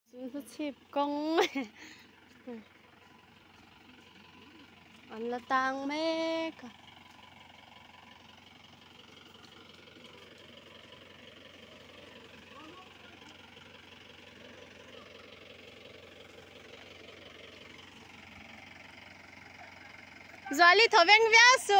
Chu hlu chhip kawng an la tang mek a. Zuali tho veng viau su.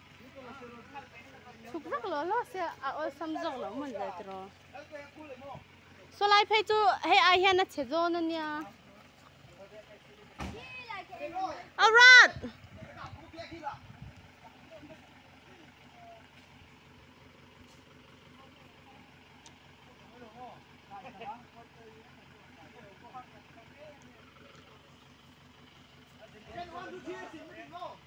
Chhuk rak lo lo se a awlsam zawk lo hmun ve tiro. Solai phei chu hei ai hian a che zawn a nia. Aurat! Thank you.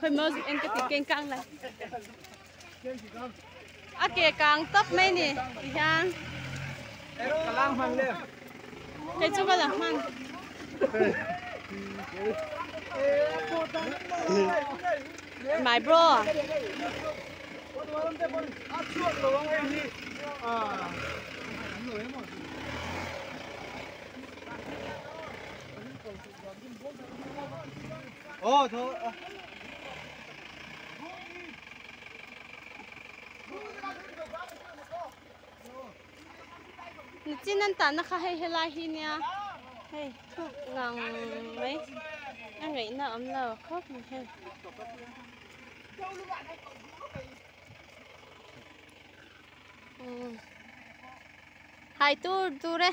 Khawih maw zut engka tih keng kang lai. A ke kang tawp mai ni ti hian. Ka lang hman le. Kei chu ka lang hman. My bro. Thank you. chin an tahna kha hei helai hi nia hei thuk ngang mai a ngaihna awm lo khawp mai hei hai tur tur e